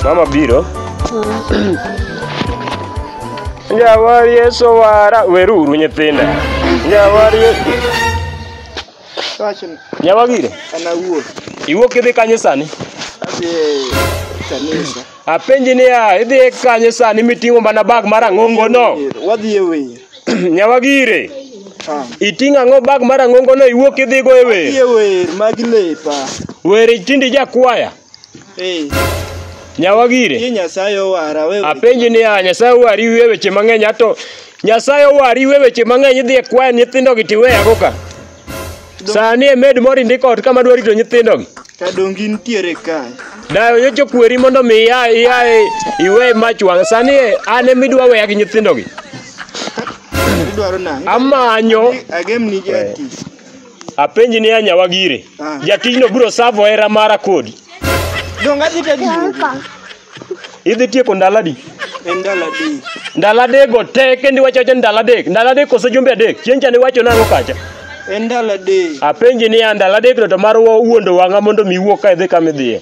Mama Biro. Jawar Yesu wara weruru nyithinda. Jawar Yesu. Wachni, Nyawagire. an awuon Iwuok idhi kanye sani? adhi e kanisa. Apenji niya, idhi e kanye sani miting'o mana bag mar ang'ongo no? Wadhi e wer. Nyawagire, Ah. iting'o ang'o bag mar ang'ongo no iwuok idhigo e Wadhi e wer? wer mag lepa. Wer tindi jakwaya. Eh, Ye Nyawagire, Nyasaye owara we. apenji niya, Nyasaye owari iwe weche mang'eny ato Nyasaye owari iwe weche mang'eny idhi e kwaya nyithindogi tiweyago ka. Sani e med moro indiko ot kama dwa rito nyithindogi. Ka dongi nitiere kae. Dayo nyocha okweri mondo mi ia ia iwe mach wang'. Sani e an ema idwa weya gi nyithindogi. Idwaro nang'o? Amanyo Agemni jatich. apenji ni anyawa gire. Ah. Jatijno biro savo hera mara kodi. Donga dhi tadi. Idhi tieko ndalo adi? En ndalo adek. Ndalo adekgo te kendo iwacho acha ndalo adek. Ndalo adek kose jumbe adek. Chieng' cha niwacho nang'o kacha? En ndalo adek. Apenji niya ndalo adekno to mar wa- wuondo wang'a mondo mi iwuog ka idhi kama idhiye.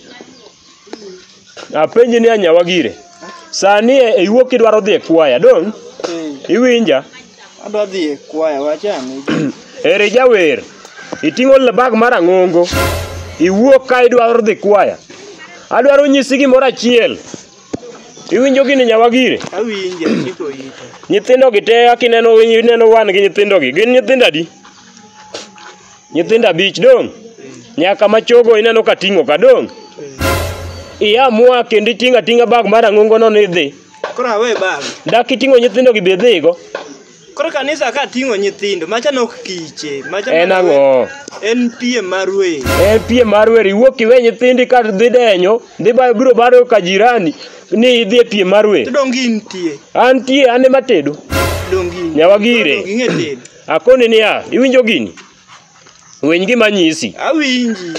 Apenji niya nyawa gire. Sani e iwuok kidwaro dhi e kwaya dong' Eh, iwinja. Adwa dhi e kwaya wachame. Eri jawer, iting'o bag mar ang'ongo, iwuok ka idwaro dhi kwaya. Adwaro nyisi gimoro achiel. Iwinjo gini nyawagire? Awinje chiko ite. Nyithindo gi te akineno ineno wan gi nyithindo gi. Gin nyithindo adi? Nyithindo abich dong'. Nyaka ma chogo ineno ka ting'o ka dong'. Iya mua kendo iting'a ting'a bag mar ang'ongo no ni dhi. Koro awe bag. Dak iting'o nyithindo gi be dhigo. Koro kanisa ka ting'o nyithindo, macha nok kiche, macha En ang'o? En piem mar wer. En piem mar wer iwuok iwe nyithindi ka dhi denyo, dhi ba biro baro ka jirani ni idhi e piem mar wer. To dongi nitie. Antie an ema tedo. Dongi. Nyawa gire. Dongi ng'e tedo. Akoni niya, iwinjo gini? Winy gima anyisi. Awinji.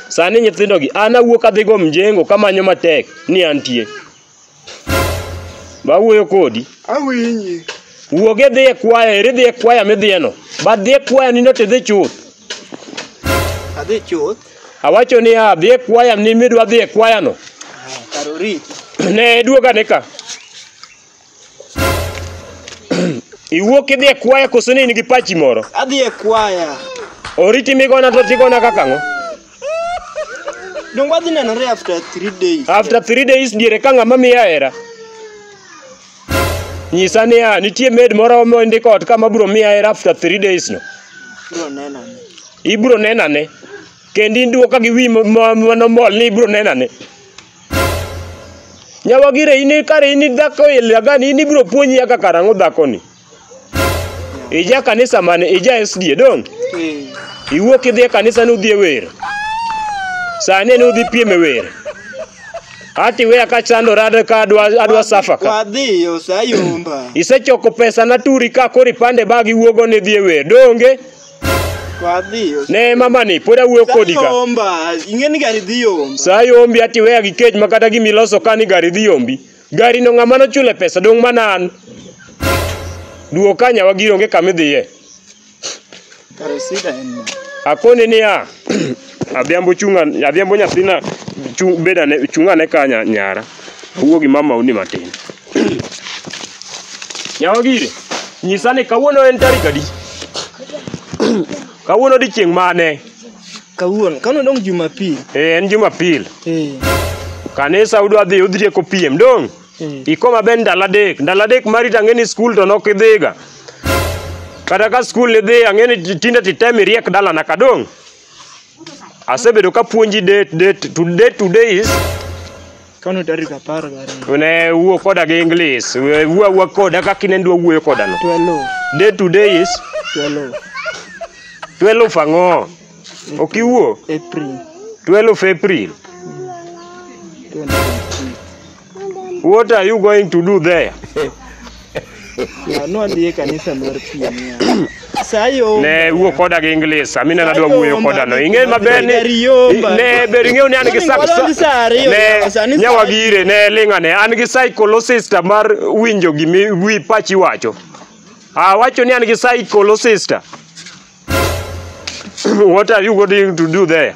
Sani nyithindogi, an awuok adhigo mjengo kamanyo matek ni antie. Bawuoyo kodi. Awinji. Wuog idhi e kwaya, eri dhi e kwaya midhiyeno. But dhi e kwaya nindo tidhi chuth. Adhi chuth. Awacho niya, dhi e kwaya ni midwa dhi e kwayano. Kar oriti. Ne duogane ka. Iwuok idhi e kwaya koso ni in gi pachi moro? Adhi e kwaya. Oriti migona to tigona kaka ang'o? Donge wadhi nenore after three days? After three days diere ka ng'ama miya hera. Nyisa niya, nitie med moro mondiko ot kama bro miya hera after three days no. Bro nena ni. Ibro nenane. Kendi duoka gi wi ma- ma- manomol ni ibro nenane. Nyawagire in kare in dhako ilagani in ibiro puonji kaka karang'o dhakoni. Ija kanisa mane ija SDA dong. Eh. Iwuok idhi e kanisa ni udhi e wer. Sani ni udhi piem e wer. Ati weya ka chandora ad- ka adwa adwa safa ka. Wadhi osayomba. Isechoko pesa na turi ka kori pande bag iwuogo ni dhi e wer. Donge Wadhiyo. Ne mamani pod awuoyo kodi ka. Sayomba, ing'e ni gari dhi yomba. Saa yombi ati weya gi kech ma kata gima iloso ka ni gari dhi yombi. Gari no ng'ama nochule pesa dong' mana an. Duo ka nyawa giri onge kama idhiye. Kare sida en ma. Akoni niya, Adhiambo chunga, adhiambo nyathina chung, beda ne, chunga ne ka nya- nyara. Awuo gi mama uni matin. Nyawa gire, nyisa ni kawuono en tarik adi? kawuono odiechieng' mane? Kawuono, kawuono dong Jumapil. Eh, en Jumapil. Eh, Kanisa udwa dhi udhieko piem dong'. eh. Iko maber ndalo adek. Ndalo adek mari to ang'e ni skul to nok idhiga. Kata ka skul idhi ang'e ni tinde titem iriek dalana ka dong'. Asebedo ka puonji date date to date today is Kano tarik apar gariyo. ne wuo koda gi English. We- Wuo awuo koda kaka in ndwa wuoyo koda no. Twelve. Date today is Twelve. 12 ang'o? Ok iwuo? April. 12 April. Twenty. What are you going to do there? nwadhi e kanisa mar piem sayo Ne wuo koda gi English, amina nadwa wuoyo koda no. Ing'e maber ni ne ber ing'eyo ni an gi sa- Onego sa ariyo, ne sani sa- nyawagire ne ling'ane an gi psychologist mar winjo gimi wi pachi wacho. Ah, wacho ni an gi psychologist. What are you going to do there?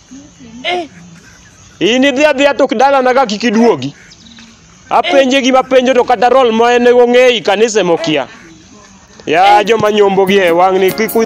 Eh, in idhi adhiya to dalana ka kik iduogi. Apenje gima penjo to kata rol ma en ong'eyi kanisa ema okia. Ya joma nyombo gi e wang' ni kik u-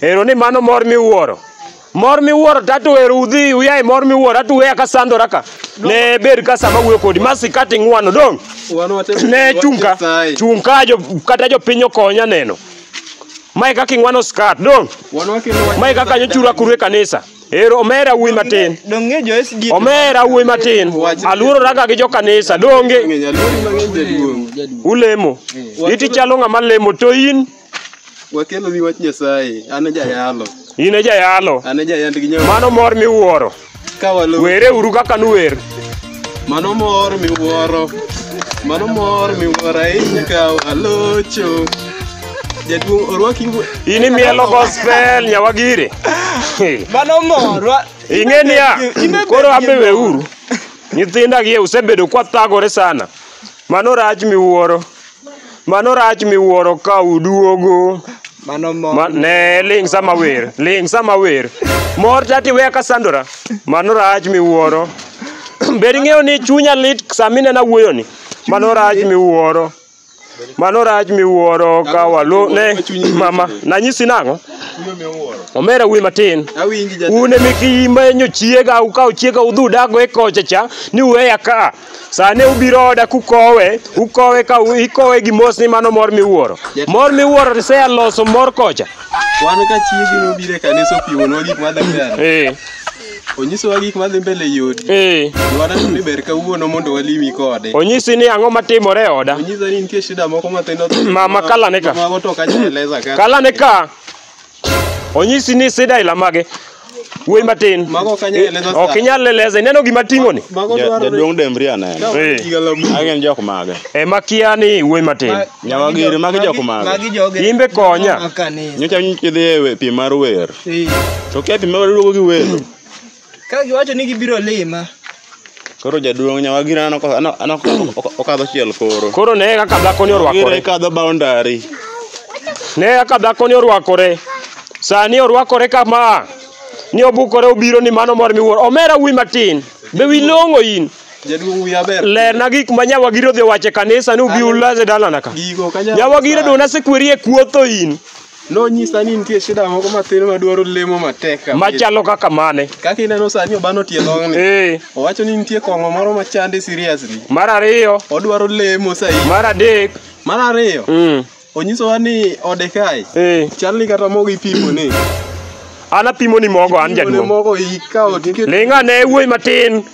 Ero ni mano mor miwuoro. Mor miwuoro tato ero udhi uyae mor miwuoro atu weya ka sandora ka. Ne ber ka sama wuyo kodi masi kati ngwano dong. Ne chunka. Chunka jo kata jo pinyo konya neno. Mae kaka ingwano skat dong. Mae kaka nyochura kurwe kanisa. Ero omera wuyi matin. Donge jo SG. Omera wuyi matin. Aluoro raka gi jo kanisa donge ulemo. Iti chalo ng'ama lemo to in Wakeloni wach Nyasaye. An e jayalo. In e jayalo. An e jayand gi nyawa. Mano mor miwuoro. Ka walo. Were uru kaka nuwer. Mano mor miwuoro. Mano mor miwuoro ahinya ka walocho. Jaduong' orwaki. In imielo gospel nyawagire. Mano mor. wa- Ing'e niya, Ine- koro ambe weuru. Nyithinda gie usebedo kwathagore sana. Mano rach miwuoro. Mano rach miwuoro ka uduogo. Mano mo. Ma, ne ling sama wer, ling sama wer. Mor tati weya ka sandora. Mano rach miwuoro. Bed ing'eyo ni chunya lit sama inena wuoyo ni. Mano rach miwuoro. Mano rach miwuoro ka walo ne mama nanyisi nang'o? Omera wuoyi matin. Awinji jatelo. Un emi kimenyo chiega ukawo chiega udhudago e kocha cha ni weya ka. Sane ubiro oda kukowe, ukowe ka u- ikowe gi mos ni mano mor miwuoro. Mor miwuoro to sea loso mor kocha. Wan ka chiegi nobiro e kanisa opiwonwa gik madhi mbele. Eh, Onyisowa gik madhi mbele e odi. eh. Dwara ni ber kawuono mondo walimi kode. Onyisi ni ang'o matimore e oda. Onyisa ni nitie shida moko mathindo. Mama, kala ne ka. Mago to ok anyal eleza ka. Kala ne ka Onyisi ni sida ila mage. Wuoyi matin. Mago ok anyal eleza sa. Ok inyal eleza. Ineno gima ting'o ni? Mago Ja- dwarore. Jaduong' Dembri aneno. Eh. Higa lamu. Magi gin jok mage. E makia ni wuoyi matin. Nyawa giri magi jok mage. Magi joge. Imbe konya. Maka ni. Nyocha nyicha idhi e we- piem mar wer. Eh. To kia piem mar duogo gi welo. Ka giwacho ni gibiro lima. Koro jaduong' nyawa gira anoko anoko okadho chiel koro. Koro ne kaka dhako ni orwakore. Gira ikadho boundary. Ne kaka dhako ni orwakore. Sani orwakore kama. Ni obukore obiro ni mano mor miwuor. Omera wuyi matin. Be wi long'o in. Jaduong' wiya ber. Lerna gik ma nyawa gira odhi wache kanisa ni ubi ulaze dalana ka. Gigo ka nyawa. Nyawa gira dona sekweri e kuotho in. Nonyisa ni nitie shida moko matin madwaro lemo matek kabisa. Machalo kaka mane? Kaka ineno sani obano tie long'ni. Eh. Owacho ni nitie kong'o moro machande seriously. Mar ariyo. Odwaro lemo sahi. Mar adek. Mar ariyo. Mm. Onyisowa ni ode kae. Eh. Chal ni kata mogo ipimo ni. An apimo ni mogo an jaduong'. Mogo ikawo tiket. Linga ne wuoyi matin.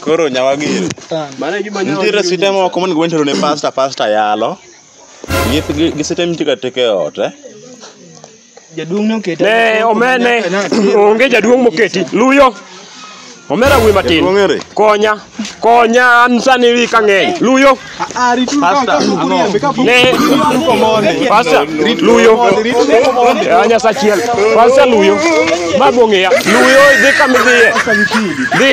Koro nyawagiri. Nitiere site moko monego bed ni itero ne pasta pasta yalo. Gi gi- gi site mitiga teke e ot eh. Jaduong' nokete. Ne omene onge jaduong' moketi. Luyo. Omera wuoyi matin. Jaduong' ere? Konya. Konya an sani wi kang'eny. Luyo. Ah, rit lu Pastor, ka ku kurie be ka ku. Ne. Ko mone. Pastor, luyo. Eh, Nyasa chiel. Pastor luyo. Ma bong'eya. Luyo dhi kama idhiye. Dhi.